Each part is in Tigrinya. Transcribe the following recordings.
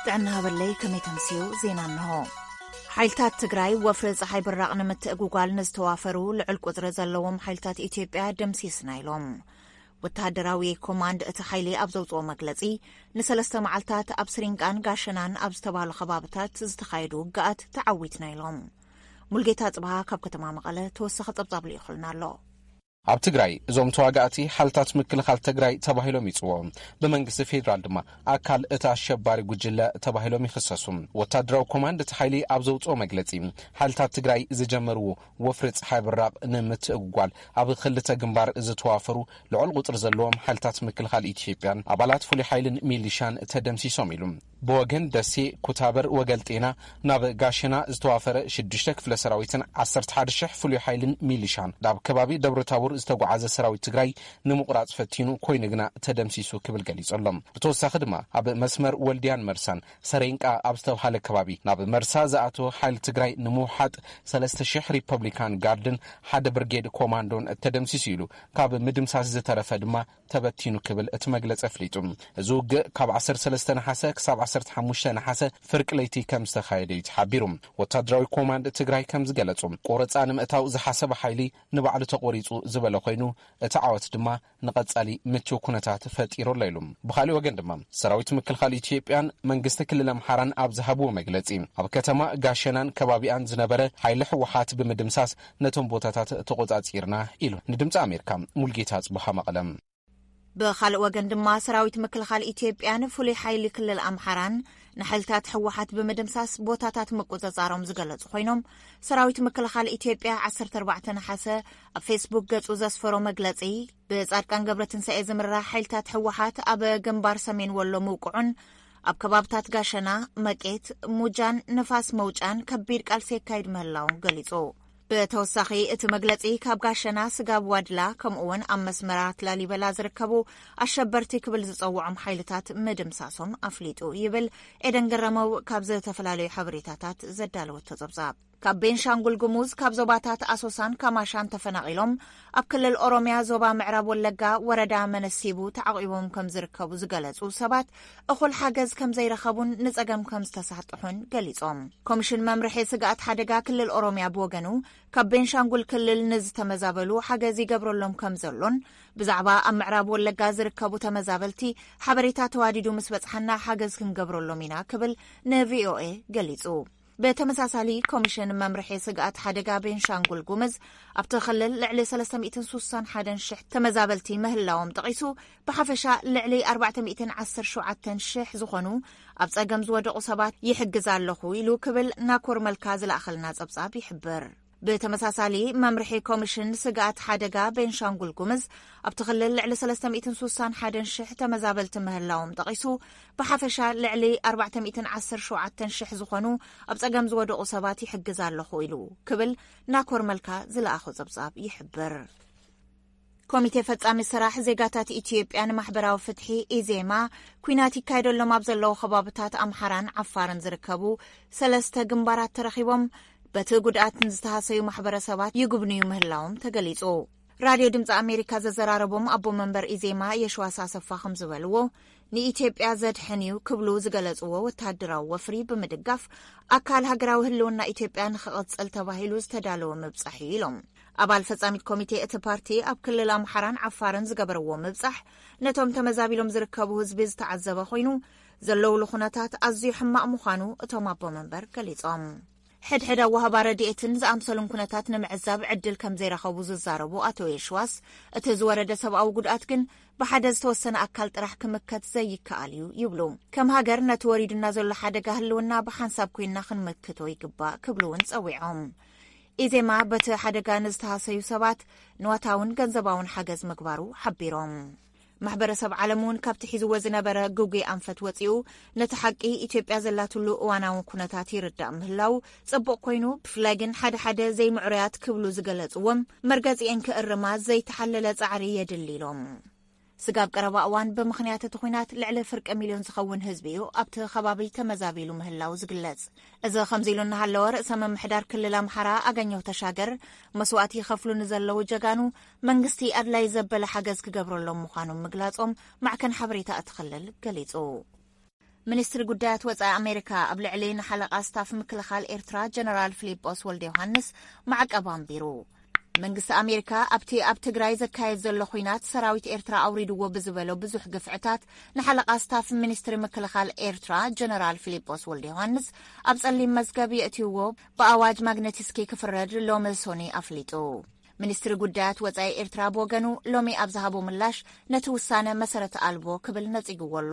ጥዕና ሃበለይ ከመይ ተምስዩ ዜና እንሆ ሓይልታት ትግራይ ወፍሪ ፀሓይ ብራቕ ንምትእጉጓል ንዝተዋፈሩ ልዑል ቁፅሪ ዘለዎም ሓይልታት ኢትዮጵያ ደምሲስና ኢሎም ወተሃደራዊ ኮማንድ እቲ ሓይሊ ኣብ ዘውጽኦ መግለጺ፣ ንሰለስተ መዓልታት ኣብ ስሪንቃን ጋሸናን ኣብ ዝተባህሉ ከባብታት ዝተኻየዱ ውግኣት ተዓዊትና ኢሎም። ሙልጌታ ጽብሃ ካብ ከተማ መቐለ ተወሳኺ ጸብጻብ ልኢኹልና ኣሎ። ኣብ ትግራይ እዞም ተዋጋእቲ ሓልታት ምክልኻል ተግራይ ተባሂሎም ይፅውዑ። ብመንግስቲ ፌዴራል ድማ ኣካል እቲ ኣሸባሪ ጉጅለ ተባሂሎም ይኽሰሱ። ወታደራዊ ኮማንድ እቲ ሓይሊ ኣብ ዘውፅኦ መግለፂ ሓይልታት ትግራይ ዝጀመርዎ ወፍሪ ፀሓይ ብራቕ ንምትእጉጓል ኣብ ኽልተ ግንባር ዝተዋፈሩ ልዑል ቑፅሪ ዘለዎም ሓይልታት ምክልኻል ኢትዮጵያን ኣባላት ፍሉይ ሓይልን ሚሊሻን ተደምሲሶም ኢሉ። ብወገን ደሴ፣ ኩታበር፣ ወገልጤና ናብ ጋሸና ዝተዋፈረ ሽዱሽተ ክፍለ ሰራዊትን ዓሰርተ ሓደ ሽሕ ፍሉይ ሓይልን ሚሊሻን ናብ ከባቢ ደብረታቦር ዝተጓዓዘ ሰራዊት ትግራይ ንምቑራፅ ፈቲኑ ኮይኑ ግና ተደምሲሱ ክብል ገሊፁ ኣሎ። ብተወሳኺ ድማ ኣብ መስመር ወልድያን መርሳን ሰሬንቃ ኣብ ዝተብሃለ ከባቢ ናብ መርሳ ዝኣተወ ሓይሊ ትግራይ ንምውሓጥ ሰለስተ ሽሕ ሪፐብሊካን ጋርድን ሓደ ብርጌድ ኮማንዶን ተደምሲሱ ኢሉ፣ ካብ ምድምሳስ ዝተረፈ ድማ ተበቲኑ ክብል እቲ መግለፂ ኣፍሊጡ። እዚ ውግእ ካብ ዓሰርተ ሰለስተ ነሓሰ ክሳብ ዓሰርተ ሓሙሽተ ነሓሰ ፍርቂ ለይቲ ከምዝተኻየደ እዩ ተሓቢሩ። ወታደራዊ ኮማንድ ትግራይ ከምዝገለፁ፣ ቆረፃ ንምእታው ዝሓሰበ ሓይሊ ንባዕሉ ተቖሪፁ ዝበለ ኮይኑ፣ እቲ ዓወት ድማ ንቐፃሊ ምችው ኩነታት ፈጢሩ ኣሎ ኢሉ። ብኻሊእ ወገን ድማ ሰራዊት ምክልኻል ኢትዮጵያን መንግስቲ ክልል ኣምሓራን ኣብ ዝሃብዎ መግለፂ ኣብ ከተማ ጋሸናን ከባቢኣን ዝነበረ ሓይሊ ህወሓት ብምድምሳስ ነቶም ቦታታት ተቖፃፂርና ኢሉ ንድምፂ ኣሜሪካ። ሙልጌታ ኣፅብሃ መቐለ። ብኻልእ ወገን ድማ ሰራዊት ምክልኻል ኢትዮጵያን ፍሉይ ሓይሊ ክልል ኣምሓራን ንሓይልታት ህወሓት ብምድምሳስ ቦታታት ምቁፅፃሮም ዝገለፁ ኮይኖም ሰራዊት ምክልኻል ኢትዮጵያ 14 ነሓሰ ኣብ ፌስቡክ ገጹ ዘስፈሮ መግለጺ፣ ብጻድቃን ገብረትንሳኤ ዝምራሕ ሓይልታት ህወሓት ኣብ ግንባር ሰሜን ወሎ ምውቅዑን ኣብ ከባብታት ጋሸና፣ መቄት፣ ሙጃን ንፋስ መውጫን ከቢድ ቃልሲ የካይድ ምህላውን ገሊጹ። ብተወሳኺ እቲ መግለጺ ካብ ጋሸና ስጋብ ዋድላ ከምኡውን ኣብ መስመራት ላሊበላ ዝርከቡ ኣሸበርቲ ክብል ዝጸውዖም ሓይልታት ምድምሳሶም ኣፍሊጡ ይብል ኤደን ገረመው ካብ ዝተፈላለዩ ሓበሬታታት ዘዳለወቶ ጸብጻብ ካብ ቤንሻንጉል ጉሙዝ ካብ ዞባታት ኣሶሳን ካማሻን ተፈናቒሎም ኣብ ክልል ኦሮምያ ዞባ ምዕራብ ወለጋ ወረዳ መነሲቡ ተዓቝቦም ከም ዝርከቡ ዝገለጹ ሰባት እኹል ሓገዝ ከም ዘይረኸቡን ንጸገም ከም ዝተሳጥሑን ገሊጾም። ኮሚሽን መምርሒ ስግኣት ሓደጋ ክልል ኦሮምያ ብወገኑ ካብ ቤንሻንጉል ክልል ንዝተመዛበሉ ሓገዝ ይገብረሎም ከም ዘሎን ብዛዕባ ኣብ ምዕራብ ወለጋ ዝርከቡ ተመዛበልቲ ሓበሬታ ተዋዲዱ ምስ በጽሓና ሓገዝ ክንገብረሎም ኢና ክብል ንቪኦኤ ገሊጹ። ብተመሳሳሊ ኮሚሽን መምርሒ ስግኣት ሓደጋ ቤንሻንጉል ጉምዝ ኣብቲ ክልል ልዕሊ ሰለስተ ሚእትን ሱሳን ሓደን ሽሕ ተመዛበልቲ ምህላዎም ጠቒሱ ብሓፈሻ ልዕሊ ኣርባዕተ ሚእትን ዓሰርተ ሸውዓተን ሽሕ ዝኾኑ ኣብ ጸገም ዝወደቑ ሰባት ይሕግዝ ኣለኹ ኢሉ ክብል ናኮር መልካ ዝለኣኸልና ጸብጻብ ይሕብር። ብተመሳሳሊ መምርሒ ኮሚሽን ስግኣት ሓደጋ ቤንሻንጉል ጉምዝ ኣብቲ ክልል ልዕሊ 361 ሽሕ ተመዛበልቲ ምህላዎም ጠቒሱ ብሓፈሻ ልዕሊ 417 ሽሕ ዝኾኑ ኣብ ጸገም ዝወደቑ ሰባት ይሕግዝ ኣለኹ ኢሉ ክብል ናኮር መልካ ዝለኣኾ ጸብጻብ ይሕብር። ኮሚቴ ፈፃሚ ስራሕ ዜጋታት ኢትዮጵያ ንማሕበራዊ ፍትሒ፣ ኢዜማ፣ ኲናት ይካየደሎም ኣብ ዘለዉ ከባብታት ኣምሓራን ዓፋርን ዝርከቡ ሰለስተ ግንባራት ተረኺቦም በቲ ጉድኣት ንዝተሃሰዩ ማሕበረሰባት ይጉብንዩ ምህላዎም ተገሊፁ። ራድዮ ድምፂ ኣሜሪካ ዘዘራረቦም ኣቦ መንበር ኢዜማ የሸዋስ ኣሰፋ ከም ዝበልዎ ንኢትዮጵያ ዘድሕን እዩ ክብሉ ዝገለፅዎ ወተሃደራዊ ወፍሪ ብምድጋፍ ኣካል ሃገራዊ ህልውና ኢትዮጵያ ንክቕፅል ተባሂሉ ዝተዳለወ ምብፃሕ እዩ ኢሎም። ኣባል ፈፃሚት ኮሚቴ እቲ ፓርቲ ኣብ ክልል ኣምሓራን ዓፋርን ዝገበረዎ ምብፃሕ ነቶም ተመዛቢሎም ዝርከቡ ህዝቢ ዝተዓዘበ ኮይኑ ዘለውሉ ኩነታት ኣዝዩ ሕማቕ ምዃኑ እቶም ኣቦ መንበር ገሊፆም። ሕድሕድ ኣዋህባ ረድኤትን ዝኣምሰሉን ኩነታት ንምዕዛብ ዕድል ከም ዘይረኸቡ ዝዛረቡ ኣቶ የሽዋስ እቲ ዝወረደ ሰብኣዊ ጉድኣት ግን ብሓደ ዝተወሰነ ኣካል ጥራሕ ክምከት ዘይከኣል እዩ ይብሉ። ከም ሃገር ነቲ ወሪዱና ዘሎ ሓደጋ ህልውና ብሓንሳብ ኮይንና ክንምክቶ ይግባእ ክብሉ እውን ፀዊዖም። ኢዜማ በቲ ሓደጋ ንዝተሃሰዩ ሰባት ንዋታውን ገንዘባውን ሓገዝ ምግባሩ ሓቢሮም። ማሕበረሰብ ዓለም እውን ካብቲ ሒዝዎ ዝነበረ ግጉይ ኣንፈት ወፂኡ ነቲ ሓቂ ኢትዮጵያ ዘላትሉ እዋናዊ ኩነታት ይርዳእ ምህላው ፅቡቕ ኮይኑ ብፍላይ ግን ሓደ ሓደ ዘይምዕሩያት ክብሉ ዝገለፅዎም መርገፂኤን ክእርማ ዘይተሓለለ ፃዕሪ የድሊ ኢሎም። ስጋብ ቀረባ እዋን ብምኽንያት እቲ ኹናት ልዕሊ ፍርቂ ሚልዮን ዝኸውን ህዝቢ እዩ ኣብቲ ኸባቢ ተመዛቢሉ ምህላው ዝግለጽ። እዚ ከምዚ ኢሉ እናሃለወ ርእሰ ምምሕዳር ክልል ኣምሓራ ኣገኘሁ ተሻገር መስዋእቲ ይኸፍሉ ንዘለዉ ጀጋኑ መንግስቲ ኣድላይ ዘበለ ሓገዝ ክገብረሎም ምዃኑ ምግላጾም ማዕከን ሓበሬታ እቲ ክልል ገሊጹ። ሚኒስትሪ ጉዳያት ወጻኢ ኣሜሪካ ኣብ ልዕሊ ንሓለቓ ስታፍ ምክልኻል ኤርትራ ጀነራል ፊሊጶስ ወልደዮሃንስ ማዕቀብ ኣንቢሩ። መንግስቲ ኣሜሪካ ኣብቲ ኣብ ትግራይ ዘካየድ ዘሎ ኹናት ሰራዊት ኤርትራ ኣውሪድዎ ብዝበሎ ብዙሕ ግፍዕታት ንሓለቓ ስታፍ ሚኒስትሪ ምክልኻል ኤርትራ ጀነራል ፊሊጶስ ወልደዮሃንስ ኣብ ጸሊም መዝገብ የእትይዎ ብኣዋጅ ማግነቲስኪ ክፍረድ ሎሚ ሶኒ ኣፍሊጡ። ሚኒስትሪ ጉዳያት ወጻኢ ኤርትራ ብወገኑ ሎሚ ኣብ ዝሃቦ ምላሽ ነቲ ውሳነ መሰረት ኣልቦ ክብል ነጺግዎ ኣሎ።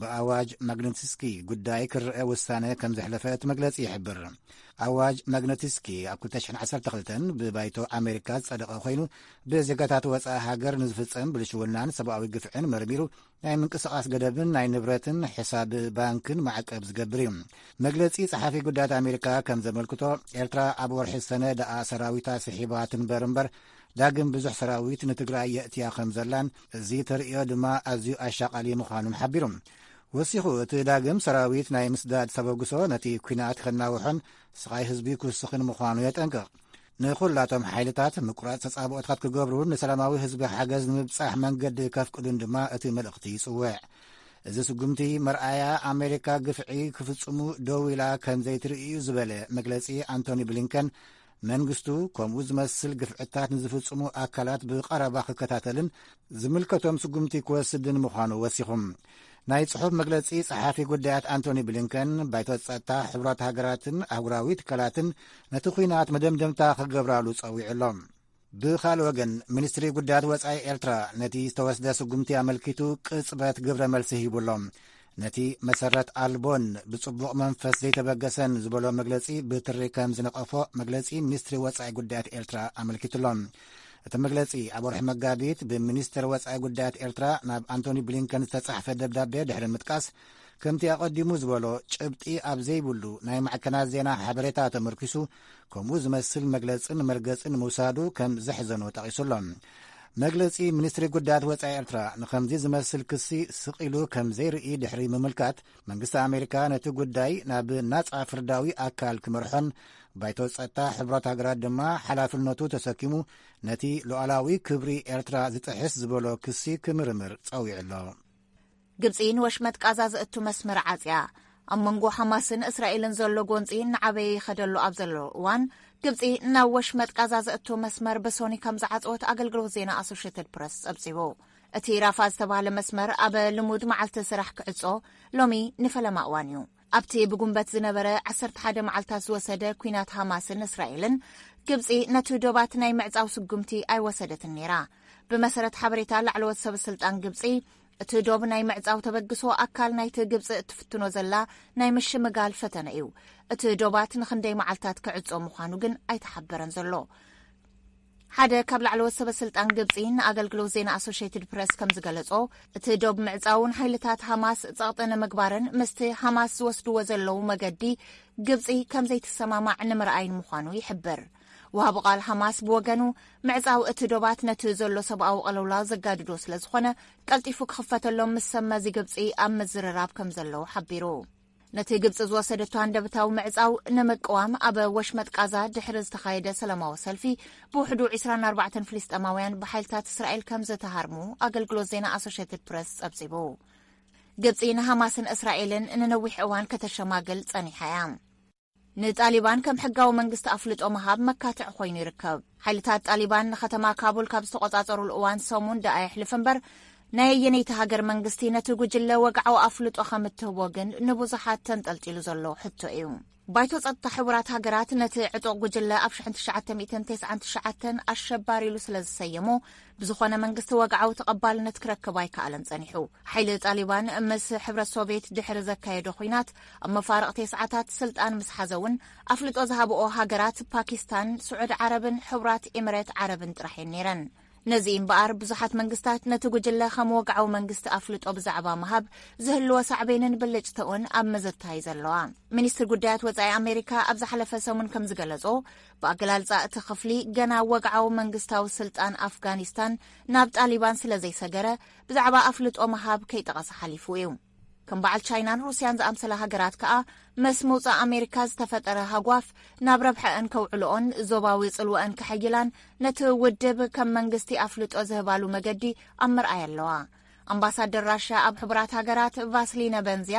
ብኣዋጅ ማግነትስኪ ጉዳይ ክርዐ ውሳነ ከም ዘሕለፈ እቲ መግለጺ ይሕብር። ኣዋጅ ማግነትስኪ ኣብ 2012 ብባይቶ ኣሜሪካ ዝጸደቐ ኮይኑ ብዜጋታት ወፃኢ ሃገር ንዝፍጸም ብልሽውናን ሰብኣዊ ግፍዕን መርሚሩ ናይ ምንቅስቓስ ገደብን ናይ ንብረትን ሕሳብ ባንክን ማዕቀብ ዝገብር እዩ መግለፂ ጸሓፊ ጉዳያት ኣሜሪካ ከም ዘመልክቶ ኤርትራ ኣብ ወርሒ ሰነ ደኣ ሰራዊታ ስሒባ ትንበር እምበር ዳግም ብዙሕ ሰራዊት ንትግራይ የእትያ ከም ዘላን እዚ ተርእዮ ድማ ኣዝዩ ኣሻቓሊ ምዃኑን ሓቢሩ። ወሲኹ እቲ ዳግም ሰራዊት ናይ ምስዳድ ተበግሶ ነቲ ኲናት ከናውሖን ስቓይ ህዝቢ ክውስኽን ምዃኑ የጠንቅቕ። ንዅላቶም ሓይልታት ምቁራጽ ተጻብኦታት ክገብሩን ንሰላማዊ ህዝቢ ሓገዝ ንምብጻሕ መንገዲ ከፍቅዱን ድማ እቲ መልእኽቲ ይጽውዕ። እዚ ስጉምቲ መርኣያ ኣሜሪካ ግፍዒ ክፍጽሙ ደው ኢላ ከም ዘይትርኢ እዩ ዝበለ መግለጺ ኣንቶኒ ብሊንከን መንግስቱ ከምኡ ዝመስል ግፍዕታት ንዝፍጽሙ ኣካላት ብቐረባ ክከታተልን ዝምልከቶም ስጉምቲ ክወስድን ምዃኑ ወሲኹም ናይ ጽሑፍ መግለጺ ጸሓፊ ጉዳያት ኣንቶኒ ብሊንከን ባይቶ ጸጥታ ሕብራት ሃገራትን ኣህጉራዊ ትካላትን ነቲ ኲናት መደምደምታ ክገብራሉ ጸዊዑ ኣሎ ብኻልእ ወገን ሚኒስትሪ ጉዳያት ወፃኢ ኤርትራ ነቲ ዝተወስደ ስጉምቲ ኣመልኪቱ ቅጽበት ግብረ መልሲ ሂቡ ኣሎ ነቲ መሰረት ኣልቦን ብጽቡቕ መንፈስ ዘይተበገሰን ዝበሎ መግለጺ ብትሪ ከም ዝነቐፎ መግለጺ ሚኒስትሪ ወፃኢ ጉዳያት ኤርትራ ኣመልኪቱ ኣሎ እቲ መግለጺ ኣብ ወርሒ መጋቢት ብሚኒስትር ወፃኢ ጉዳያት ኤርትራ ናብ ኣንቶኒ ብሊንከን ዝተጻሕፈ ደብዳቤ ድሕሪ ምጥቃስ ከምቲ ኣቐዲሙ ዝበሎ ጭብጢ ኣብ ዘይብሉ ናይ ማዕከናት ዜና ሓበሬታ ተመርኪሱ ከምኡ ዝመስል መግለጽን መርገጽን ምውሳዱ ከም ዘሕዘኖ ጠቒሱ ኣሎ መግለጺ ሚኒስትሪ ጉዳያት ወፃኢ ኤርትራ ንከምዚ ዝመስል ክሲ ስቕ ኢሉ ከም ዘይርኢ ድሕሪ ምምልካት መንግስቲ ኣሜሪካ ነቲ ጉዳይ ናብ ናጻ ፍርዳዊ ኣካል ክመርሖን ባይቶ ጸጥታ ሕብራት ሃገራት ድማ ሓላፍነቱ ተሰኪሙ ነቲ ሉዓላዊ ክብሪ ኤርትራ ዝጥሕስ ዝበሎ ክሲ ክምርምር ጸዊዑ ኣሎ ግብጺ ንወሽመጥ ቃዛ ዘእቱ መስመር ዓጽያ። ኣብ መንጎ ሓማስን እስራኤልን ዘሎ ጎንጺ እናዓበየ ይኸደሉ ኣብ ዘሎ እዋን ግብጺ ናብ ወሽመጥ ቃዛ ዘእቶ መስመር ብሶኒ ከም ዝዓጽወት ኣገልግሎት ዜና ኣሶሽትድ ፕረስ ጸብጺቡ። እቲ ራፋ ዝተባህለ መስመር ኣብ ልሙድ መዓልቲ ስራሕ ክዕጾ ሎሚ ንፈለማ እዋን እዩ። ኣብቲ ብጉንበት ዝነበረ 11 መዓልታት ዝወሰደ ኩናት ሃማስን እስራኤልን ግብጺ ነቲ ዶባት ናይ ምዕጻው ስጉምቲ ኣይወሰደትን ነይራ። ብመሰረት ሓበሬታ ላዕለዎት ሰበስልጣን ግብጺ እቲ ዶብ ናይ ምዕጻው ተበግሶ ኣካል ናይቲ ግብጺ እትፍትኖ ዘላ ናይ ምሽምጋል ፈተነ እዩ። እቲ ዶባት ንክንደይ መዓልታት ክዕጾ ምዃኑ ግን ኣይተሓበረን ዘሎ። ሓደ ካብ ላዕለዎት ሰበስልጣን ግብጺ ንኣገልግሎት ዜና ኣሶሽትድ ፕረስ ከም ዝገለጾ እቲ ዶብ ምዕጻውን ሓይልታት ሃማስ ጸቕጢ ንምግባርን ምስቲ ሃማስ ዝወስድዎ ዘለዉ መገዲ ግብጺ ከም ዘይትሰማማዕ ንምርኣይን ምዃኑ ይሕብር። ወሃቢ ቃል ሓማስ ብወገኑ፣ ምዕጻው እቲ ዶባት ነቲ ዘሎ ሰብኣዊ ቅልውላው ዘጋድዶ ስለ ዝኾነ፣ ቀልጢፉ ክኽፈተሎም ምስ ሰብ መዚ ግብጺ ኣብ ምዝርራብ ከም ዘለዉ ሓቢሩ። ነቲ ግብጺ ዝወሰደቶ ሃንደብታዊ ምዕጻው ንምቅዋም ኣብ ወሽመጥ ቃዛ ድሕሪ ዝተኻየደ ሰላማዊ ሰልፊ ብውሕዱ ዒስራን ኣርባዕተን ፍልስጤማውያን ብሓይልታት እስራኤል ከም ዝተሃርሙ ኣገልግሎት ዜና ኣሶሼትድ ፕረስ ጸብጺቡ። ግብጺ ንሃማስን እስራኤልን ንነዊሕ እዋን ከተሸማግል ጸኒሓ እያ። ንጣሊባን ከም ሕጋዊ መንግስቲ ኣፍልጦ ምሃብ መካትዒ ኮይኑ ይርከብ። ሓይልታት ጣሊባን ንከተማ ካቡል ካብ ዝተቖጻጸሩሉ እዋን ሰሙን ደኣ የሕልፍ እምበር፣ ናይ ኣየነይቲ ሃገር መንግስቲ ነቲ ጉጅለ ወግዓዊ ኣፍልጦ ከም እትህቦ ግን ንብዙሓት ተንጠልጢሉ ዘሎ ሕቶ እዩ። ባይቶ ጸጥታ ሕቡራት ሃገራት ነቲ ዕጡቕ ጉጅለ ኣብ ሽሕን ትሽዓተ ሚእትን ተስዓን ትሽዓተን ኣሸባሪ ኢሉ ስለ ዝሰየሞ፣ ብዝኾነ መንግስቲ ወግዓዊ ተቐባልነት ክረክብ ኣይከኣለን ጸኒሑ። ሓይሊ ጣሊባን ምስ ሕብረት ሶቭየት ድሕሪ ዘካየዶ ኹናት ኣብ መፋርቕ ቴስዓታት ስልጣን ምስ ሓዘ እውን ኣፍልጦ ዝሃብኦ ሃገራት ፓኪስታን፣ ስዑድ ዓረብን ሕቡራት ኤምሬት ዓረብን ጥራሕ እየን ነይረን። ነዚ እምበኣር ብዙሓት መንግስታት ነቲ ጉጅለ ከም ወግዓዊ መንግስቲ ኣፍልጦ ብዛዕባ ምሃብ ዝህልዎ ሳዕቤንን ብልጭተኡን ኣብ ምዝታይ ዘለዋ። ሚኒስትሪ ጉዳያት ወጻኢ ኣሜሪካ ኣብ ዝሓለፈ ሰሙን ከም ዝገለጾ ብኣገላልጻ እቲ ክፍሊ ገና ወግዓዊ መንግስታዊ ስልጣን ኣፍጋኒስታን ናብ ጣሊባን ስለ ዘይሰገረ ብዛዕባ ኣፍልጦ ምሃብ ከይጠቐሰ ሓሊፉ እዩ። ከም በዓል ቻይናን ሩስያን ዝኣምሰላ ሃገራት ከኣ መስ ምውጻእ ኣሜሪካ ዝተፈጠረ ሃጓፍ ናብ ረብሐአን ከውዕልኦን ዞባዊ ጽልወአን ከሐይላን ነቲ ውድብ ከም መንግስቲ ኣፍልጦ ዝህባሉ መገዲ ኣብ ምርኣይ ኣለዋ። ኣምባሳደር ራሻ ኣብ ሕቡራት ሃገራት ቫስሊነ በንዝያ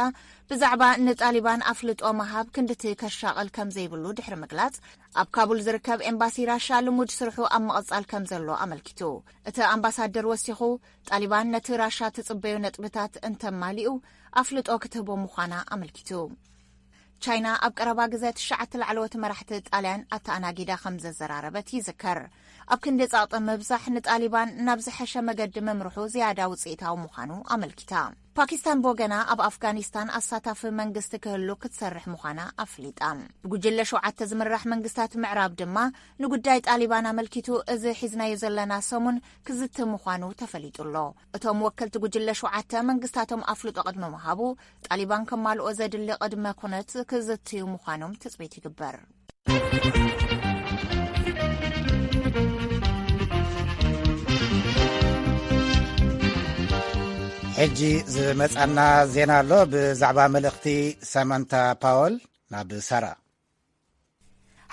ብዛዕባ ንጣሊባን ኣፍልጦ ምሃብ ክንድቲ ከሻቕል ከም ዘይብሉ ድሕሪ ምግላጽ ኣብ ካቡል ዝርከብ ኤምባሲ ራሻ ልሙድ ስርሑ ኣብ ምቕጻል ከም ዘሎ ኣመልኪቱ። እቲ ኣምባሳደር ወሲኹ ጣሊባን ነቲ ራሻ ትጽበዮ ነጥብታት እንተማሊኡ ኣፍልጦ ክትህቦ ምዃና ኣመልኪቱ። ቻይና ኣብ ቀረባ ግዘ ትሽዓተ ላዕለዎት መራሕቲ ጣልያን ኣተኣናጊዳ ከም ዘዘራረበት ይዝከር። ኣብ ክንዲ ጸቕጢ ምብዛሕ ንጣሊባን ናብ ዝሐሸ መገዲ ምምርሑ ዝያዳ ውጽኢታዊ ምዃኑ ኣመልኪታ። ፓኪስታን ብወገና ኣብ ኣፍጋኒስታን ኣሳታፊ መንግስቲ ክህሉ ክትሰርሕ ምዃና ኣፍሊጣ። ብጉጅለ ሸውዓተ ዝምራሕ መንግስታት ምዕራብ ድማ ንጉዳይ ጣሊባን ኣመልኪቱ እዚ ሒዝናዮ ዘለና ሰሙን ክዝቲ ምዃኑ ተፈሊጡ ኣሎ። እቶም ወከልቲ ጉጅለ ሸውዓተ መንግስታቶም ኣፍልጦ ቅድሚ ምሃቡ ጣሊባን ከማልኦ ዘድሊ ቅድመ ኩነት ክዝትዩ ምዃኖም ትፅቢት ይግበር። ሕጂ ዝመጻና ዜና ኣሎ ብዛዕባ መልእኽቲ ሰመንታ ፓወል ናብ ሳራ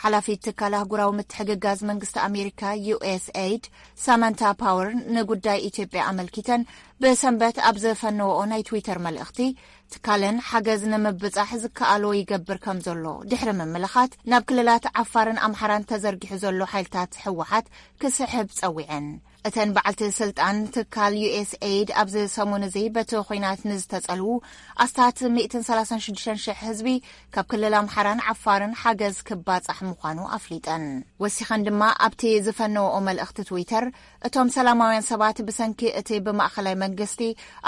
ሓላፊት ትካል ኣህጉራዊ ምትሕግጋዝ መንግስቲ ኣሜሪካ ዩኤስኤይድ ሳማንታ ፓወር ንጉዳይ ኢትዮጵያ ኣመልኪተን ብሰንበት ኣብ ዘፈነወኦ ናይ ትዊተር መልእኽቲ ትካለን ሓገዝ ንምብጻሕ ዝከኣሎ ይገብር ከም ዘሎ ድሕሪ ምምልኻት ናብ ክልላት ዓፋርን ኣምሓራን ተዘርጊሑ ዘሎ ሓይልታት ህወሓት ክስሕብ ጸዊዐን። እተን በዓልቲ ስልጣን ትካል ዩኤስ ኤይድ ኣብዚ ሰሙን እዚ በቲ ኹናት ንዝተጸልዉ ኣስታት ሚእትን ሰላሳን ሽዱሽተን ሽሕ ህዝቢ ካብ ክልል ኣምሓራን ዓፋርን ሓገዝ ክባጻሕ ምዃኑ ኣፍሊጠን። ወሲኸን ድማ ኣብቲ ዝፈነወኦ መልእኽቲ ትዊተር እቶም ሰላማውያን ሰባት ብሰንኪ እቲ ብማእኸላይ መንግስቲ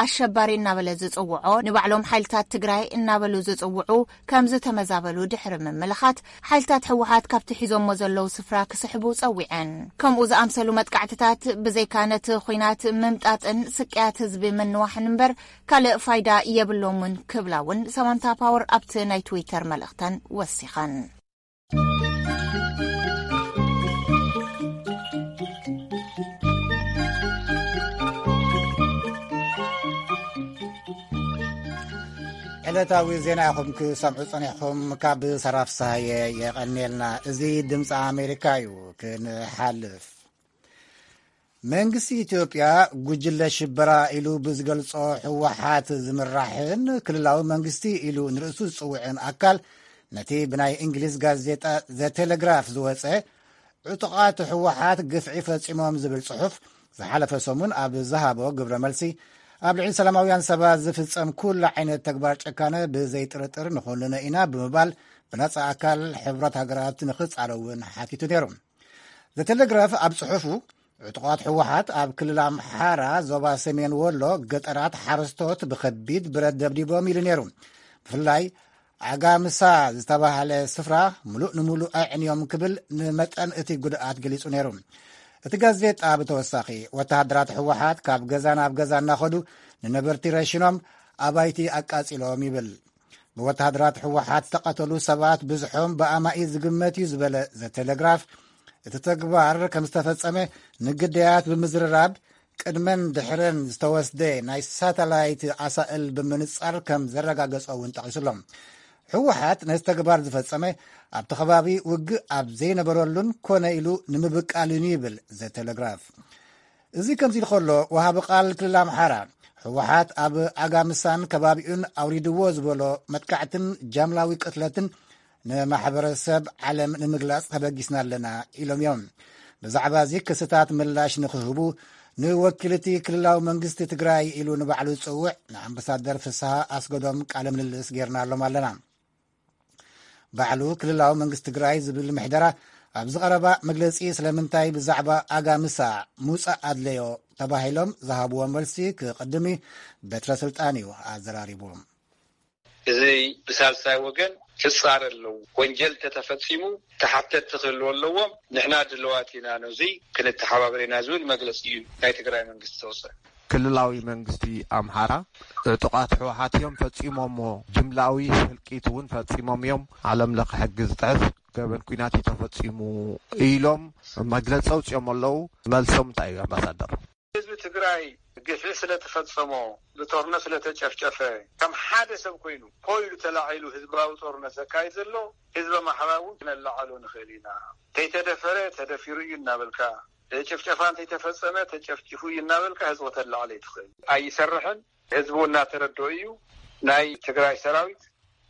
ኣሸባሪ እናበለ ዝጽውዖ ንባዕሎም ሓይልታት ትግራይ እናበሉ ዝጽውዑ ከምዝተመዛበሉ ድሕሪ ምምልኻት፣ ሓይልታት ህወሓት ካብቲ ሒዞሞ ዘለዉ ስፍራ ክስሕቡ ጸዊዐን። ከምኡ ዝኣምሰሉ መጥቃዕትታት ብዘይካ ነቲ ኹናት ምምጣጥን ስቅያት ህዝቢ ምንዋሕን እምበር ካልእ ፋይዳ የብሎምን ክብላ እውን ሰማንታ ፓወር ኣብቲ ናይ ትዊተር መልእኽተን ወሲኸን። ዕለታዊ ዜና ይኹም ክሰምዑ ፀኒሕኹም ካብ ሰራፍ ሳሃየ የቐኒልና እዚ ድምፂ ኣሜሪካ እዩ ክንሓልፍ መንግስቲ ኢትዮጵያ ጉጅለ ሽበራ ኢሉ ብዝገልጾ ህወሓት ዝምራሕን ክልላዊ መንግስቲ ኢሉ ንርእሱ ዝጽውዕን ኣካል ነቲ ብናይ እንግሊዝ ጋዜጣ ዘቴሌግራፍ ዝወፀ ዕጡቓት ህወሓት ግፍዒ ፈፂሞም ዝብል ጽሑፍ ዝሓለፈ ሰሙን ኣብ ዝሃቦ ግብረ መልሲ ኣብ ልዕሊ ሰላማውያን ሰባት ዝፍፀም ኩሉ ዓይነት ተግባር ጨካነ ብዘይጥርጥር ንኾንነ ኢና ብምባል ብነፃ ኣካል ሕብረት ሃገራት ንክፃረውን ሓቲቱ ነይሩ ዘተለግራፍ ኣብ ጽሑፉ ዕጡቓት ሕወሓት ኣብ ክልል ኣምሓራ ዞባ ሰሜን ወሎ ገጠራት ሓረስቶት ብከቢድ ብረት ደብዲቦም ኢሉ ነይሩ ብፍላይ ዓጋምሳ ዝተባህለ ስፍራ ምሉእ ንምሉእ ኣዕንዮም ክብል ንመጠን እቲ ጉድኣት ገሊጹ ነይሩ እቲ ጋዜጣ ብተወሳኺ ወተሃደራት ሕወሓት ካብ ገዛ ናብ ገዛ እናኸዱ ንነበርቲ ረሽኖም ኣባይቲ ኣቃጺሎም ይብል ብወተሃደራት ህወሓት ዝተቐተሉ ሰባት ብዝሖም ብኣማኢ ዝግመት እዩ ዝበለ ዘቴሌግራፍ እቲ ተግባር ከም ዝተፈጸመ ንግዳያት ብምዝርራብ ቅድመን ድሕረን ዝተወስደ ናይ ሳተላይት ኣሳእል ብምንጻር ከም ዘረጋገጾ እውን ጠቒሱሎም ህወሓት ነዚ ተግባር ዝፈጸመ ኣብቲ ከባቢ ውግእ ኣብ ዘይነበረሉን ኮነ ኢሉ ንምብቃልን ይብል ዘቴሌግራፍ እዚ ከምዚ ኢሉ ከሎ ወሃቢ ቃል ክልል ኣምሓራ ህወሓት ኣብ ኣጋምሳን ከባቢኡን ኣውሪድዎ ዝበሎ መጥቃዕትን ጃምላዊ ቅትለትን ንማሕበረሰብ ዓለም ንምግላፅ ተበጊስና ኣለና ኢሎም እዮም ብዛዕባ እዚ ክስታት ምላሽ ንክህቡ ንወኪል እቲ ክልላዊ መንግስቲ ትግራይ ኢሉ ንባዕሉ ዝፅውዕ ንኣምባሳደር ፍስሃ ኣስገዶም ቃለ ምልልስ ጌርናሎም ኣለና ባዕሉ ክልላዊ መንግስቲ ትግራይ ዝብል ምሕደራ ኣብዚ ቐረባ መግለፂ ስለምንታይ ብዛዕባ ኣጋምሳ ምውፃእ ኣድለዮ ተባሂሎም ዝሃብዎ መልሲ ክቕድም እዩ በትረ ስልጣን እዩ ኣዘራሪቡዎም እዚ ብሳልሳይ ወገን ክፃረ ኣለዎ ወንጀል ተተፈፂሙ ተሓተቲ ክህልዎ ኣለዎም ንሕና ድለዋት ኢና ነዙይ ክንተሓባበሬና ዝብል መግለፂ እዩ ናይ ትግራይ መንግስቲ ዘውፅእ ክልላዊ መንግስቲ ኣምሓራ ዕጡቓት ህወሓት እዮም ፈፂሞምዎ፣ ጅምላዊ ህልቂት እውን ፈፂሞም እዮም፣ ዓለም ለኸ ሕጊ ዝጥሕስ ገበን ኲናት እዩ ተፈፂሙ ኢሎም መግለፂ ኣውፂኦም ኣለዉ። መልሶም እንታይ እዩ ኣምባሳደር? ህዝቢ ትግራይ ግፍዒ ስለተፈፀሞ፣ ብጦርነት ስለተጨፍጨፈ ከም ሓደ ሰብ ኮይኑ ሆ ኢሉ ተላዒሉ ህዝባዊ ጦርነት ዘካይድ ዘሎ ህዝቢ ኣምሓራ እውን ክነላዕሎ ንኽእል ኢና፣ ከይተደፈረ ተደፊሩ እዩ እናበልካ፣ ጭፍጨፋ እንተይተፈፀመ ተጨፍጪፉ እዩ እናበልካ ህዝቢ ክተላዕል ኣይትኽእልን። ኣይሰርሕን ህዝቢ እውን እናተረደኦ እዩ። ናይ ትግራይ ሰራዊት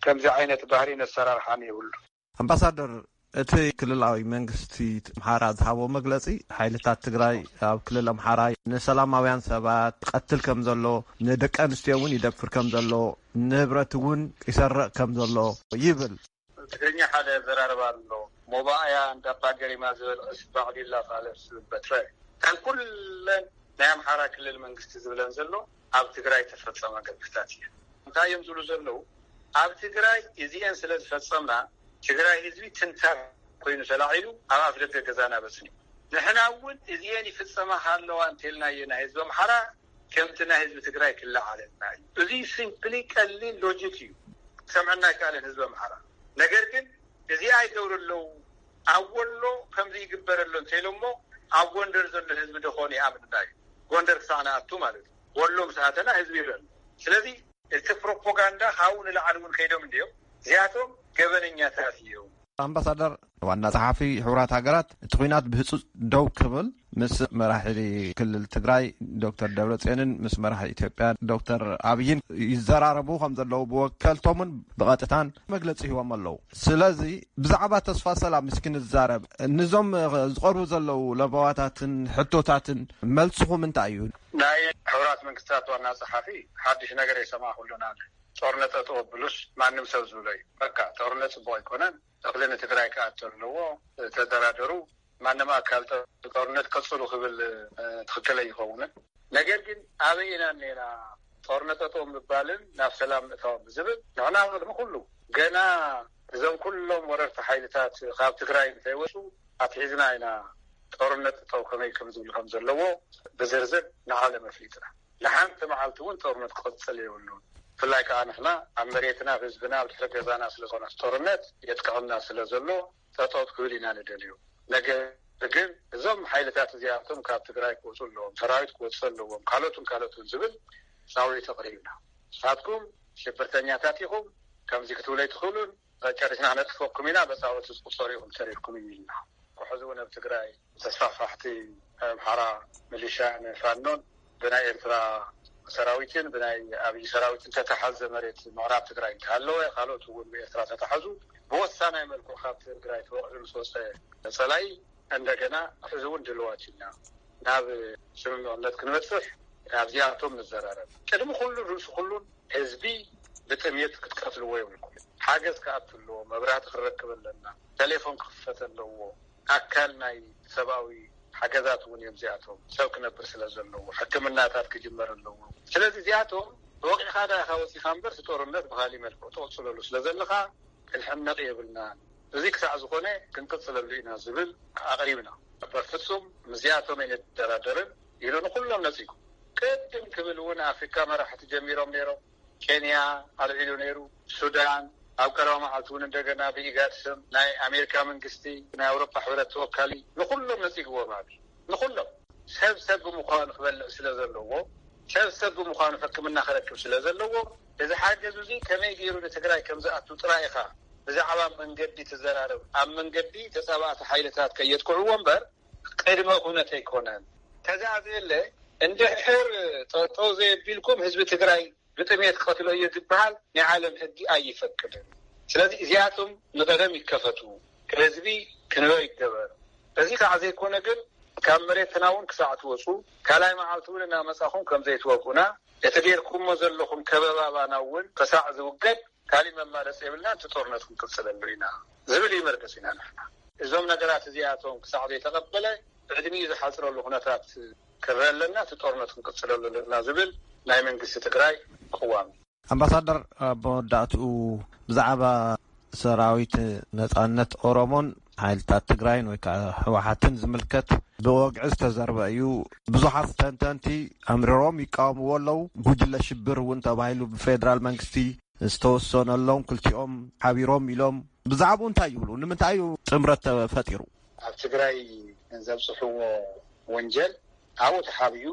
ከምዚ ዓይነት ባህሪን ኣሰራርሓን የብሉን። ኣምባሳደር፣ እቲ ክልላዊ መንግስቲ ኣምሓራ ዝሃቦ መግለፂ ሓይልታት ትግራይ ኣብ ክልል ኣምሓራ ንሰላማውያን ሰባት ይቐትል ከም ዘሎ፣ ንደቂ ኣንስትዮ እውን ይደፍር ከም ዘሎ፣ ንብረት እውን ይሰርቕ ከም ዘሎ ይብል። ትግርኛ ሓደ ኣዘራርባ ኣሎ ሞባኣያ እንዳ ኣባ ገሪማ ዝበልዕስ ባዕዲላ ፋለስ ዝብል በትረ ከም ኩለን ናይ ኣምሓራ ክልል መንግስቲ ዝብለን ዘሎ ኣብ ትግራይ ተፈፀመ ገድፍታት እየን እንታይ እዮም ዝብሉ ዘለው ኣብ ትግራይ እዚኤን ስለ ዝፈፀምና ትግራይ ህዝቢ ትንታግ ኮይኑ ተላዒሉ ኣብ ኣፍደገ ገዛና በፅኒሑ ንሕና እውን እዚኤን ይፍፀማኻ ኣለዋ እንተልናዬ ናይ ህዝቢ ኣምሓራ ከምቲ ናይ ህዝቢ ትግራይ ክለዓለልና እዩ እዚ ሲምፕሊ ቀሊል ሎጂክ እዩ ክሰምዐና ኣይከኣለን ህዝቢ ኣምሓራ ነገር ግን እዚኣ ይገብሩ ኣለው ኣብ ወሎ ከምዚ ይግበር ኣሎ እንተኢሎሞ ኣብ ጎንደር ዘሎ ህዝቢ ደኾን ይኣምንና እዩ ጎንደር ክሳዕ ንኣቱ ማለት እዩ ወሎ ምስ ኣተና ህዝቢ ይርእ ኣሎ ስለዚ እቲ ፕሮፖጋንዳ ካብኡ ንላዕሊ እውን ከይዶም እንድዮም እዚኣቶም ገበነኛታት እዮም። ኣምባሳደር ዋና ጸሓፊ ሕቡራት ሃገራት እቲ ኩናት ብህፁፅ ደው ክብል ምስ መራሒ ክልል ትግራይ ዶክተር ደብረፅዮንን ምስ መራሒ ኢትዮጵያ ዶክተር ኣብይን ይዘራረቡ ከም ዘለዉ ብወከልቶምን ብቐጥታን መግለፂ ሂቦም ኣለዉ ስለዚ ብዛዕባ ተስፋ ሰላም ምስ ክንዛረብ ንዞም ዝቐርቡ ዘለዉ ለበዋታትን ሕቶታትን መልስኹም እንታይ እዩ ናይ ሕራት መንግስታት ዋና ፀሓፊ ሓድሽ ነገር የሰማዕኩሉና ጦርነት ጠጠው ኣብሉስ ማንም ሰብ ዝብሎ እዩ በቃ ጦርነት ፅቡቅ ኣይኮነን እክሊ ንትግራይ ክኣቱ ኣለዎ ተደራደሩ ማንም ኣካል ጦርነት ቀፅሉ ክብል ትክክል ኣይኸውንን ነገር ግን ኣበይ ኢና እኒኤና ጦርነት ጠጠው ምባልን ናብ ሰላም ምእታውን ብዝብል ንሕና ቅድሚ ኩሉ ገና እዞም ኩሎም ወረርቲ ሓይልታት ካብ ትግራይ እንተይወፁ ኣትሒዝና ኢና ጦርነት ጠጠው ከመይ ከምዝብል ከምዘለዎ ብዝርዝር ንዓለም ኣፍሊጥና። ንሓንቲ መዓልቲ ውን ጦርነት ክቅጽል የብሉን ብፍላይ ከኣ ንሕና ኣብ መሬትና ኣብ ህዝብና ኣብ ድሕሪ ገዛና ስለ ዝኾነስ ጦርነት የጥቅዕና ስለ ዘሎ ጠጠው ክብል ኢና ንደልዮ ነገር ግን እዞም ሓይልታት እዚኣቶም ካብ ትግራይ ክወጹ ኣለዎም ሰራዊት ክወጽእ ኣለዎም ካልኦትን ካልኦትን ዝብል ጻውዒት ኣቅሪብና ንሳትኩም ሽብርተኛታት ኢኹም ከምዚ ክትብሉ ኣይትኽእሉን ጨሪስና ክነጥፈኩም ኢና በጻውዒት ዝቁጸሩ ኢኹም ተሪፍኩም ኢልና ሕዚ ውን ኣብ ትግራይ ተስፋፋሕቲ ናይ ኣምሓራ ምሊሻ ን ፋኖን ብናይ ኤርትራ ሰራዊትን ብናይ ኣብይ ሰራዊትን ተታሓዘ መሬት ምዕራብ ትግራይ እንተሃለወ ካልኦት እውን ብኤርትራ ተታሓዙ ብወሳናይ መልክዑ ካብ ትግራይ ተወቂዑ ምስ ወፀ ፀላኢ እንደገና ሕዚ እውን ድልዋት ኢና ናብ ስምምዕነት ክንበፅሕ ኣብዚኣቶም ንዘራረብ ቅድሚ ኩሉን ርእሲ ኩሉን ህዝቢ ብጥምየት ክትቀትልዎ የብልኩም ሓገዝ ክኣቱ ኣለዎ መብራህቲ ክንረክብ ኣለና ተሌፎን ክኽፈት ኣለዎ ኣካል ናይ ሰብኣዊ ሓገዛት እውን እዮም እዚኣቶም ሰብ ክነብር ስለ ዘለዎ ሕክምናታት ክጅመር ኣለዎ ስለዚ እዚኣቶም ተወቂዕኻ ድኣ ኢኻ ወጺኻ እምበር እቲ ጦርነት ብኻሊእ መልክዑ ትቕጽለሉ ስለ ዘለኻ ክንሕመቕ የብልናን እዚ ክሳዕ ዝኾነ ክንቅጽለሉ ኢና ዝብል ኣቕሪብና በፍጹም ምስዚኣቶም ኣይንደራደርን ኢሉ ንኹሎም ነጺጉ ቅድም ክብል እውን ኣፍሪካ መራሕቲ ጀሚሮም ነይሮም። ኬንያ ኣልዒሉ ነይሩ፣ ሱዳን ኣብ ቀረባ መዓልቲ እውን እንደገና ብኢጋድ ስም ናይ ኣሜሪካ መንግስቲ ናይ ኣውሮፓ ሕብረት ተወካሊ ንኹሎም ነጺግዎም ኣብይ ንኹሎም ሰብ ሰብ ብምዃኑ ክበልዕ ስለ ዘለዎ ሰብ ሰብ ብምዃኑ ሕክምና ክረክብ ስለ ዘለዎ እዚ ሓገዝ እዙይ ከመይ ገይሩ ንትግራይ ከም ዝኣቱ ጥራይ ኢኻ ብዛዕባ መንገዲ ትዘራረብ ኣብ መንገዲ ተጻባእቲ ሓይልታት ከየጥቅዕዎ እምበር ቅድመ ኩነት ኣይኮነን። ተዛዝየለ እንድሕር ጠጠው ዘየቢልኩም ህዝቢ ትግራይ ብጥምየት ክቀትሎ እዮ ዝብሃል ናይ ዓለም ሕጊ ኣይፈቅድን ስለዚ እዚኣቶም ንቀደም ይከፈቱ ህዝቢ ክንበ ይገበር እዚ ካዓ ዘይኮነ ግን ካብ መሬትና እውን ክሳዕ ትወፁ ካልኣይ ማዓልቲ እውን እናመፃኹም ከምዘይትወጉኡና እቲ ገይርኩሞ ዘለኹም ከበባ ባና እውን ክሳዕ ዝውገድ ካሊእ መማረፂ የብልናን እቲ ጦርነት ክንቅፅለሉ ኢና ዝብል እዩ መርገፂና ንሕና። እዞም ነገራት እዚኣቶም ክሳዕ ዘይተቐበለ ዕድሚኡ ዝሓፅረሉ ኩነታት ክረእ ኣለና እቲ ጦርነት ክንቅፅለሉ ኣለና ዝብል ናይ መንግስቲ ትግራይ ቅዋም እዩ። ኣምባሳደር ኣብ መወዳእትኡ ብዛዕባ ሰራዊት ነፃነት ኦሮሞን ሓይልታት ትግራይን ወይ ከዓ ህወሓትን ዝምልከት ብወግዒ ዝተዘርበ እዩ። ብዙሓት ተንተንቲ ኣምርሮም ይቃወምዎ ኣለው። ጉጅለ ሽብር እውን ተባሂሉ ብፌደራል መንግስቲ ዝተወሰነሎም ክልቲኦም ሓቢሮም ኢሎም ብዛዕባኡ እንታይ ይብሉ? ንምንታይ እዩ ጥምረት ተፈጢሩ? ኣብ ትግራይ ዘብፅሕዎ ወንጀል ኣብኡ ተሓቢኡ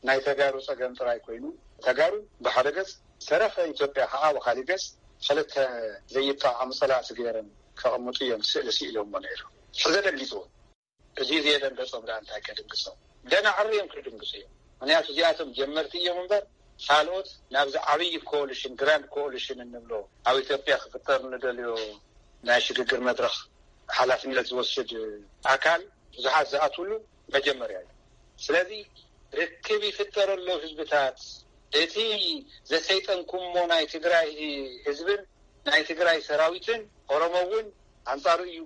ናይ ተጋሩ ፀገም ጥራይ ኮይኑ ተጋሩ ብሓደ ገፅ ዝተረፈ ኢትዮጵያ ከኣ ብካሊእ ገጽ ክልተ ዘይጠዓሙ ጸላእቲ ገይሮም ከቅምጡ ኢዮም ስእሊ ሲኢሎሞ ነይሮም ሕዚ ኣደንጊጽዎም። እዚ ዘየደንገጾም ደኣ እንታይ ከድንግጾም ገና ዓርዮም ክድንግጹ ኢዮም ምክንያቱ እዚኣቶም ጀመርቲ ኢዮም እምበር ካልኦት ናብዚ ዓብይ ኮኦሊሽን ግራንድ ኮኦሊሽን እንብሎ ኣብ ኢትዮጵያ ክፍጠር ንደልዮ ናይ ሽግግር መድረክ ሓላፍነት ዝወስድ ኣካል ብዙሓት ዝኣትውሉ መጀመርያ እዩ ስለዚ ርክብ ይፍጠረሎ ህዝብታት እቲ ዘሰይጠንኩሞ ናይ ትግራይ ህዝብን ናይ ትግራይ ሰራዊትን ኦሮሞ ውን ኣንጻሩ እዩ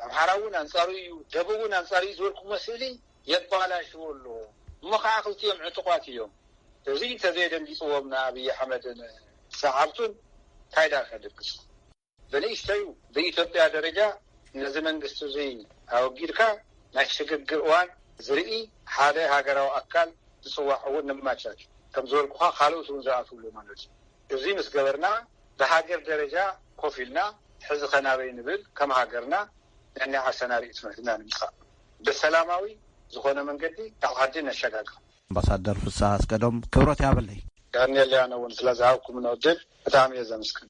ኣምሓራ ውን ኣንጻሩ እዩ ደቡብ ውን ኣንጻሩ እዩ ዝበልኩሞ ስእሊ የባላሽዎ ኣሎ እሞ ከዓ ክልቲኦም ዕጡቋት እዮም እዚ እንተዘየደንጊፅዎም ንኣብይ ኣሕመድን ሰዓብቱን ታይ ድኣ ከድግፁ ብንእሽተዩ ብኢትዮጵያ ደረጃ ነዚ መንግስቲ እዙይ ኣወጊድካ ናይ ሽግግር እዋን ዝርኢ ሓደ ሃገራዊ ኣካል ዝፅዋዕ እውን ነማቻች። ከም ዝበልኩኻ ካልኦት እውን ዝኣትውሉ ማለት እዩ። እዙይ ምስ ገበርና ብሃገር ደረጃ ኮፍ ኢልና ሕዚ ከ ናበይ ንብል ከም ሃገርና ነናይ ዓርሰና ርኢቶ ሒዝና ንምፃእ ብሰላማዊ ዝኾነ መንገዲ ናብ ዓዲ ነሸጋግር። ኣምባሳደር ፍስሃ ኣስገዶም ክብረት ይሃበለይ። ዳኒኤል ያነ ውን ስለ ዝሃብኩምና ዕድል ብጣዕሚ እየ ዘምስግን።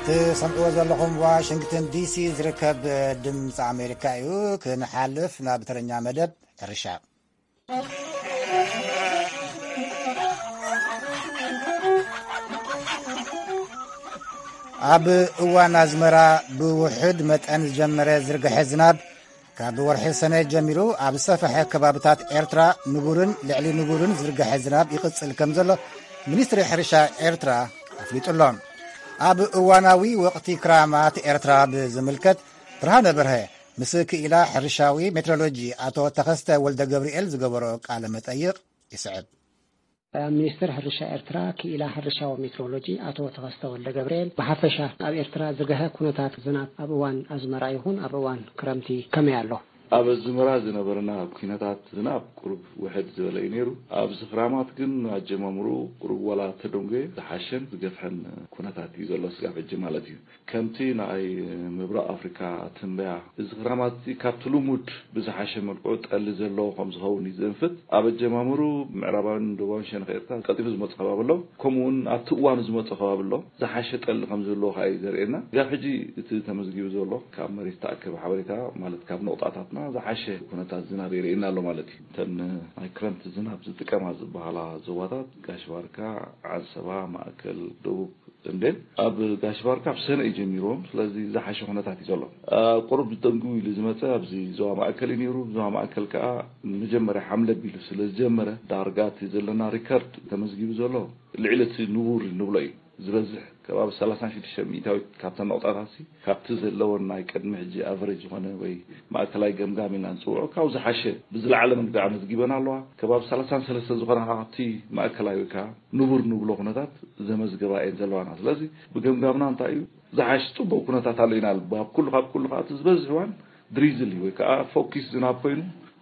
ትሰምዕዎ ዘለኹም ዋሽንግተን ዲሲ ዝርከብ ድምፂ ኣሜሪካ እዩ። ክንሓልፍ ናብ ተረኛ መደብ ሕርሻ ኣብ እዋን ኣዝመራ ብውሕድ መጠን ዝጀመረ ዝርግሐ ዝናብ ካብ ወርሒ ሰነ ጀሚሩ ኣብ ዝሰፈሐ ከባብታት ኤርትራ ንቡርን ልዕሊ ንቡርን ዝርግሐ ዝናብ ይቕጽል ከም ዘሎ ሚኒስትሪ ሕርሻ ኤርትራ ኣፍሊጡ ኣሎ ኣብ እዋናዊ ወቕቲ ክራማት ኤርትራ ብዝምልከት ብርሃነ በርሀ ምስ ክኢላ ሕርሻዊ ሜትሮሎጂ ኣቶ ተኸስተ ወልደገብርኤል ዝገበሮ ቃለ መጠይቕ ይስዕብ። ሚኒስትር ሕርሻ ኤርትራ ክኢላ ሕርሻዊ ሜትሮሎጂ ኣቶ ተኸስተ ወልደገብርኤል፣ ብሓፈሻ ኣብ ኤርትራ ዝገሀ ኩነታት ዝናብ ኣብ እዋን ኣዝመራ ይኹን ኣብ እዋን ክረምቲ ከመይ ኣሎ? ኣብ ኣዝመራ ዝነበረና ኩነታት ዝናብ ቁሩብ ውሕድ ዝበለ እዩ ነይሩ። ኣብዚ ክራማት ግን ኣጀማምርኡ ቁሩብ ዋላ ተደንጎየ ዝሓሸን ዝገፍሐን ኩነታት እዩ ዘሎ ስጋብ ሕጂ ማለት እዩ። ከምቲ ንኣይ ምብራቕ ኣፍሪካ ትንበያ፣ እዚ ክራማት እዚ ካብቲ ልሙድ ብዝሓሸ መልክዑ ጠሊ ዘለዎ ከም ዝኸውን እዩ ዝእንፍት። ኣብ ኣጀማምርኡ ምዕራባዊን ደቡባዊን ሸነኽ ኤርትራ ቀልጢፉ ዝመጾ ከባቢ ኣሎ፣ ከምኡ እውን ኣብቲ እዋኑ ዝመጾ ከባቢ ኣሎ። ዝሓሸ ጠሊ ከም ዝህልዎ ከኣ እዩ ዘርእየና። ክሳብ ሕጂ እቲ ተመዝጊቡ ዘሎ ካብ መሬት ዝተኣከበ ሓበሬታ ማለት ካብ ነቑጣታትና ዝሓሸ ኩነታት ዝናብ የርእየና ኣሎ ማለት እዩ። እተን ናይ ክረምቲ ዝናብ ዝጥቀማ ዝበሃላ ዞባታት ጋሽ ባርካ፣ ዓንሰባ፣ ማእከል፣ ደቡብ፣ ተምቤን ኣብ ጋሽ ባርካ ብ ሰነ እዩ ጀሚርዎም ስለዚ ዝሓሸ ኩነታት እዩ ዘሎ ቁሩብ ደንግው ኢሉ ዝመጸ ኣብዚ ዞባ ማእከል እዩ ኔሩ ዞባ ማእከል ከኣ ንመጀመርያ ሓምለ ኣቢሉ ስለ ዝጀመረ ዳርጋ እቲ ዘለና ሪከርድ ተመዝጊቡ ዘሎ ልዕሊ እቲ ንቡር እንብሎ እዩ ዝበዝሕ ከባቢ ሰላሳን ሽዱሽተን ሚኢታዊት ካብተን ነቑጣታትሲ ካብቲ ዘለወን ናይ ቅድሚ ሕጂ ኣቨረጅ ዝኾነ ወይ ማእከላይ ገምጋም ኢልና ንጽውዖ ካብኡ ዝሓሸ ብዝለዓለ መንግዲ ኣመዝጊበን ኣለዋ ከባቢ ሰላሳን ሰለስተን ዝኾና ከኣ ካብቲ ማእከላይ ወይ ከኣ ንቡር ንብሎ ኩነታት ዘመዝገባ እየን ዘለዋና። ስለዚ ብገምጋምና እንታይ እዩ ዝሓሽ ጽቡቕ ኩነታት ኣሎ ኢና ብ ኣብ ኩሉ ካብ ኩሉ ከኣ እቲ ዝበዝሕ እዋን ድሪዝል እዩ ወይ ከኣ ፎኪስ ዝናብ ኮይኑ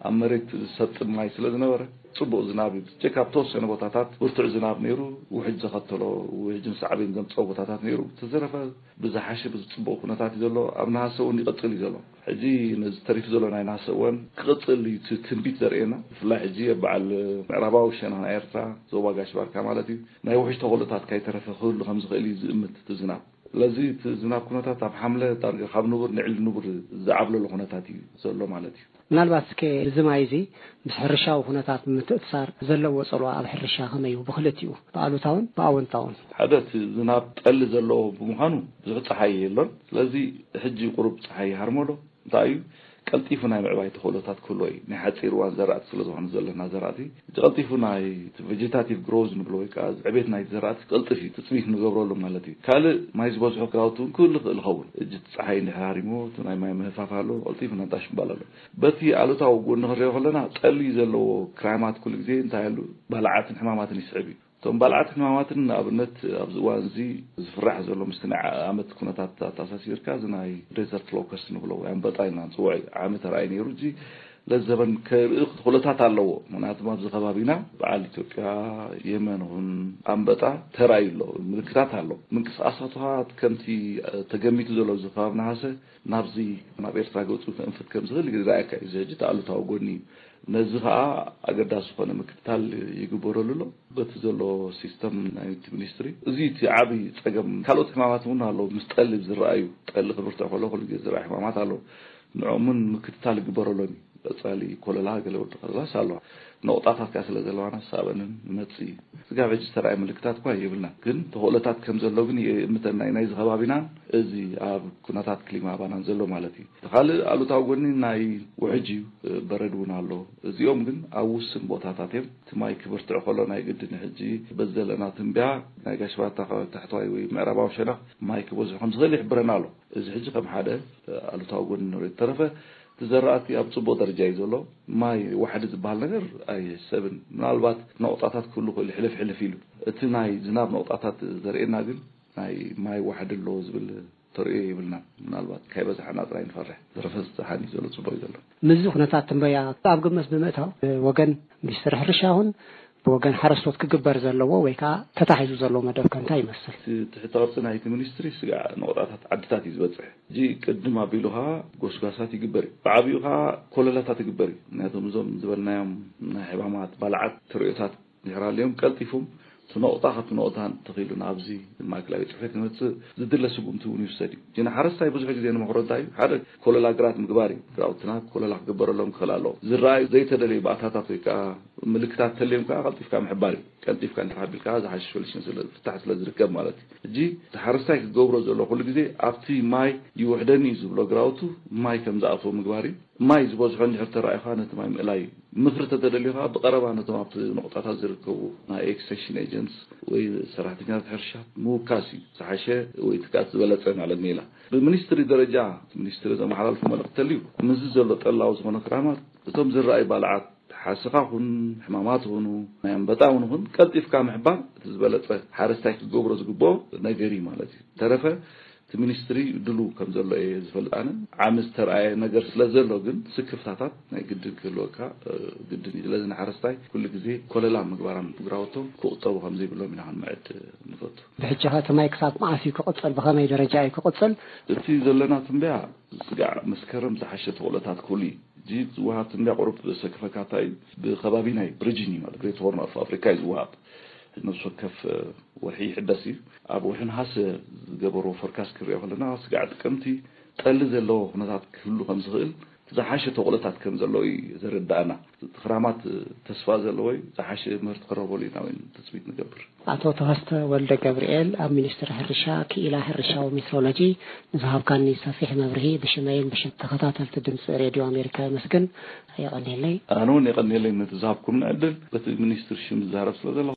ኣብ መሬት ዝሰጥም ማይ ስለ ዝነበረ ጽቡቕ ዝናብ እዩ ብዘይካ ኣብ ተወሰነ ቦታታት ብርቱዕ ዝናብ ነይሩ ውሕጅ ዘኸተሎ ውሕጅን ሳዕቤን ዘምጸኦ ቦታታት ነይሩ ብተዘረፈ ብዝሓሸ ብዝጽቡቕ ኩነታት እዩ ዘሎ ኣብ ነሃሰ እውን ይቕጽል እዩ ዘሎ። ሕጂ ነዚ ተሪፉ ዘሎ ናይ ነሃሰ እዋን ክቕጽል እዩ እቲ ትንቢት ዘርእየና። ብፍላይ ሕጂ ኣብ በዓል ምዕራባዊ ሸነኽ ናይ ኤርትራ፣ ዞባ ጋሽ ባርካ ማለት እዩ፣ ናይ ውሕጅ ተኽእሎታት ካይተረፈ ክህሉ ከም ዝኽእል እዩ ዝእምት እቲ ዝናብ። ስለዚ እቲ ዝናብ ኩነታት ኣብ ሓምለ ዳርጋ ካብ ንቡር ንዒሊ ንቡር ዝዓብለሎ ኩነታት እዩ ዘሎ ማለት እዩ። ምናልባት'ከ እዚ ማይ እዚ ምስ ሕርሻዊ ኩነታት ብምትእስሳር ዘለዎ ጽልዋ ኣብ ሕርሻ ከመይ እዩ? ብኽልቲኡ፣ ብኣሉታውን ብኣወንታውን። ሓደ እቲ ዝናብ ጠሊ ዘለዎ ብምዃኑ ብዙሕ ጸሓይ የሎን። ስለዚ ሕጂ ቁሩብ ጸሓይ ይሃርሞ ዶ? እንታይ እዩ ቀልጢፉ ናይ ምዕባይ ተኽእሎታት ክህልዎ እዩ። ናይ ሓጺር እዋን ዘራእቲ ስለ ዝኾነ ዘለና ዘራእቲ እቲ ቀልጢፉ ናይ እቲ ቨጀታቲቭ ግሮውዝ ንብሎ ወይ ከኣ ዕቤት ናይቲ ዘራእቲ ክቕልጥፍ እዩ ትጽቢት ንገብረሉ ማለት እዩ። ካልእ ማይ ዝበዝሖ ግራውቲ እውን ክህሉ ይኽእል ይኸውን። ሕጂ እቲ ጸሓይ እንድሕር ሃሪሙ እቲ ናይ ማይ ምህርፋፍ ሃለወ ቀልጢፉ ነጣሽ ምባል ኣለዎ። በቲ ኣሉታዊ ጎኒ ክንሪኦ ከለና ጠሊ ዘለዎ ክራይማት ኩሉ ግዜ እንታይ ኣሉ ባልዓትን ሕማማትን ይስዕብ እዩ። እቶም ባልዓትን ሕማማትን ንኣብነት ኣብዚ እዋን'ዚ ዝፍራሕ ዘሎ ምስቲ ናይ ዓኣመት ኩነታት ኣተኣሳሲርካ እዚ ናይ Desert Locust እንብሎ ወይ ኣንበጣ ኢልና ንጽውዖ እዩ ዓሚ ተራእዩ ነይሩ እዚ ለዘበን ከርኢ ክቶለታት ኣለዎ ምክንያቱም ኣብዚ ከባቢና በዓል ኢትዮጵያ የመን ውን ኣንበጣ ተራእዩ ኣሎ ምልክታት ኣሎ ምንቅስቃሳቱ ከኣ ከምቲ ተገሚቱ ዘሎ ኣብዚ ከባቢ ነሃሰ ናብዚ ናብ ኤርትራ ገጹ ከእንፍት ከም ዝኽእል ይርኣየካ እዩ። እዚ ሕጂ እቲ ኣሉታዊ ጎኒ እዩ። ነዚ ከኣ ኣገዳሲ ዝኾነ ምክትታል ይግበረሉ ኣሎ በቲ ዘሎ ሲስተም ናይቲ ሚኒስትሪ። እዚ እቲ ዓቢ ጸገም። ካልኦት ሕማማት እውን ኣለዉ ምስ ጠሊ ዝረኣዩ። ጠሊ ክብርትዕ ከሎ ኩሉ ግዜ ዝረኣ ሕማማት ኣለዉ። ንዕኦም እውን ምክትታል ይግበረሎም እዩ። ቀጻሊ ኮለላ ገለ ወዲ ከለላስ ኣሎ። ነቑጣታት ከኣ ስለ ዘለዋና ክሳበንን ንመጽእ እዩ። ስጋብ ሕጂ ዝተራእየ ምልክታት እኳ የብልናን ግን ተኽእሎታት ከም ዘሎ ግን ይእምተን ናይ ናይዚ ከባቢናን እዚ ኣብ ኩነታት ክሊማ ኣባናን ዘሎ ማለት እዩ። እቲ ካልእ ኣሉታዊ ጎኒ ናይ ውሕጅ እዩ በረድ እውን ኣሎ እዚኦም ግን ኣብ ውስን ቦታታት እዮም። እቲ ማይ ክብርትዕ ከሎ ናይ ግድን እዩ ሕጂ በዚ ዘለና ትንብያ ናይ ጋሽ ባርታ ከባቢ ታሕተዋይ ወይ ምዕራባዊ ሸነኽ ማይ ክበዝሑ ከም ዝኽእል ይሕብረና ኣሎ እዚ ሕጂ ከም ሓደ ኣሉታዊ ጎኒ ንሪኦ ተረፈ እቲ ዘራእቲ ኣብ ጽቡቕ ደረጃ እዩ ዘሎ። ማይ ዋሕዲ ዝበሃል ነገር ኣይሕሰብን። ምናልባት ነቑጣታት ክህሉ ይኽእሉ ሕልፍ ሕልፍ ኢሉ። እቲ ናይ ዝናብ ነቑጣታት ዘርእየና ግን ናይ ማይ ዋሕዲ ኣሎ ዝብል ተርእዮ የብልናን። ምናልባት ካይበዝሓና ጥራይ ንፈርሕ። ብዝተረፈ ዝጸሓን እዩ ዘሎ ጽቡቕ እዩ ዘሎ። ምስዚ ኩነታት ትንበያ ኣብ ግምት ብምእታው ብወገን ሚኒስትሪ ሕርሻ ይኹን ብወገን ሓረስቶት ክግበር ዘለዎ ወይ ከኣ ተታሒዙ ዘሎ መደብ ከ እንታይ ይመስል? እቲ ትሕተ ቅርጺ ናይቲ ሚኒስትሪ ስጋዕ ነቑጣታት ዓድታት እዩ ዝበጽሕ። ሕጂ ቅድም ኣቢሉ ከኣ ጎስጓሳት ይግበር እዩ። ብዓቢኡ ከኣ ኮለላታት ይግበር እዩ። ምክንያቱ እዞም ዝበልናዮም ናይ ሕማማት ባልዓት ተርእዮታት ድሕሪ ሃልዮም ቀልጢፉም እቲ ነቑጣ ካብቲ ነቑታ እንተኺኢሉ ናብዚ ማእከላይ ቤት ጽሕፈት ክመጽእ ዝድለ ስጉምቲ እውን ይውሰድ እዩ። ግና ሓረስታይ ብዙሕ ግዜ ንመኽሮ እንታይ እዩ ሓደ ኮለላ ግራት ምግባር እዩ። ግራውትና ኮለላ ክግበረሎም ክኽእል ኣለዎ። ዝረኣዩ ዘይተደለዩ ባእታታት ወይ ከኣ ምልክታት እንተልዮም ከኣ ቀልጢፍካ ምሕባር እዩ። ቀልጢፍካ እንድሕር ኣቢልካ ዝሓሸ ሶሉሽን ስለ ፍታሕ ስለ ዝርከብ ማለት እዩ። ሕጂ እቲ ሓረስታይ ክገብሮ ዘለዎ ኩሉ ግዜ ኣብቲ ማይ ይውሕደኒ እዩ ዝብሎ ግራውቱ ማይ ከም ዝኣትዎ ምግባር እዩ። ማይ ዝበዝሖ እንድሕር ተራእዩ ከኣ ነቲ ማይ ምእላይ እዩ። ምኽሪ ተተደልዩ ከኣ ብቐረባ ነቶም ኣብቲ ነቑጣታት ዝርከቡ ናይ ኤክስቴንሽን ኤጀንትስ ወይ ሰራሕተኛታት ሕርሻ ምውካስ እዩ ዝሓሸ ወይ እቲ ከኣ እቲ ዝበለጸ ማለት ሜላ። ብሚኒስትሪ ደረጃ እቲ ሚኒስትሪ ዘመሓላልፎ መልእኽቲ ተልዩ፣ ምስዚ ዘሎ ጠላዊ ዝኾነ ክራማት እቶም ዝረኣዩ ባልዓት ሓሰኻ ኹን ሕማማት ኹኑ ናይ ኣምበጣ ውን ኹን ቀልጢፍካ ምሕባር እቲ ዝበለጸ ሓረስታይ ክገብሮ ዝግብኦ ነገር እዩ ማለት እዩ። ዝተረፈ እቲ ሚኒስትሪ ድሉው ከም ዘሎ እየ ዝፈልጥ ኣነ። ዓሚ ዝተርኣየ ነገር ስለ ዘሎ ግን ስክፍታታት ናይ ግድን ክህልወካ ግድን እዩ። ስለዚ ንሓረስታይ ኩሉ ግዜ ኮለላ ምግባራም ግራውቶም ክቑጠቡ ከም ዘይብሎም ኢና ክንምዕድ ንፈቱ። ብሕጂኸ እቲ ማይ ክሳብ መዓስ እዩ ክቕጽል፣ ብኸመይ ደረጃ እዩ ክቕጽል? እቲ ዘለና ትንበያ ስጋዕ መስከረም ዝሓሸ ተኽእሎታት ክህሉ እዩ። እዚ ዝወሃብ ትንበያ ቁሩብ ዘሰክፈካታ እዩ። ብከባቢ ናይ ብሪጅን እዩ ማለት ግሬት ሆርን ኦፍ ኣፍሪካ እዩ ዝወሃብ። ነብሲ ወከፍ ወርሒ ይሕደስ እዩ። ኣብ ወርሒ ነሓሰ ዝገበርዎ ፎርካስት ክንሪኦ ከለና ስጋዕ ጥቅምቲ ጠሊ ዘለዎ ኩነታት ክህሉ ከምዝኽእል፣ ዝሓሸ ተኽእሎታት ከም ዘሎ እዩ ዘረድኣና። እቲ ክራማት ተስፋ ዘለዎ እዩ፣ ዝሓሸ ምህርቲ ክረኽበሉ ኢና እውን ትፅቢት ንገብር። ኣቶ ተኸስተ ወልደገብርኤል ኣብ ሚኒስትሪ ሕርሻ ክኢላ ሕርሻዊ ሜትሮሎጂ ንዝሃብካኒ ሰፊሕ መብርሂ ብሽመይን ብሽም ተኸታተልቲ ድምፂ ሬድዮ ኣሜሪካ የመስግን። የቐንየለይ። ኣነ እውን የቐንየለይ ነቲ ዝሃብኩምኒ ዕድል በቲ ሚኒስትሪ ሽም ዝዛረብ ስለዘለኹ።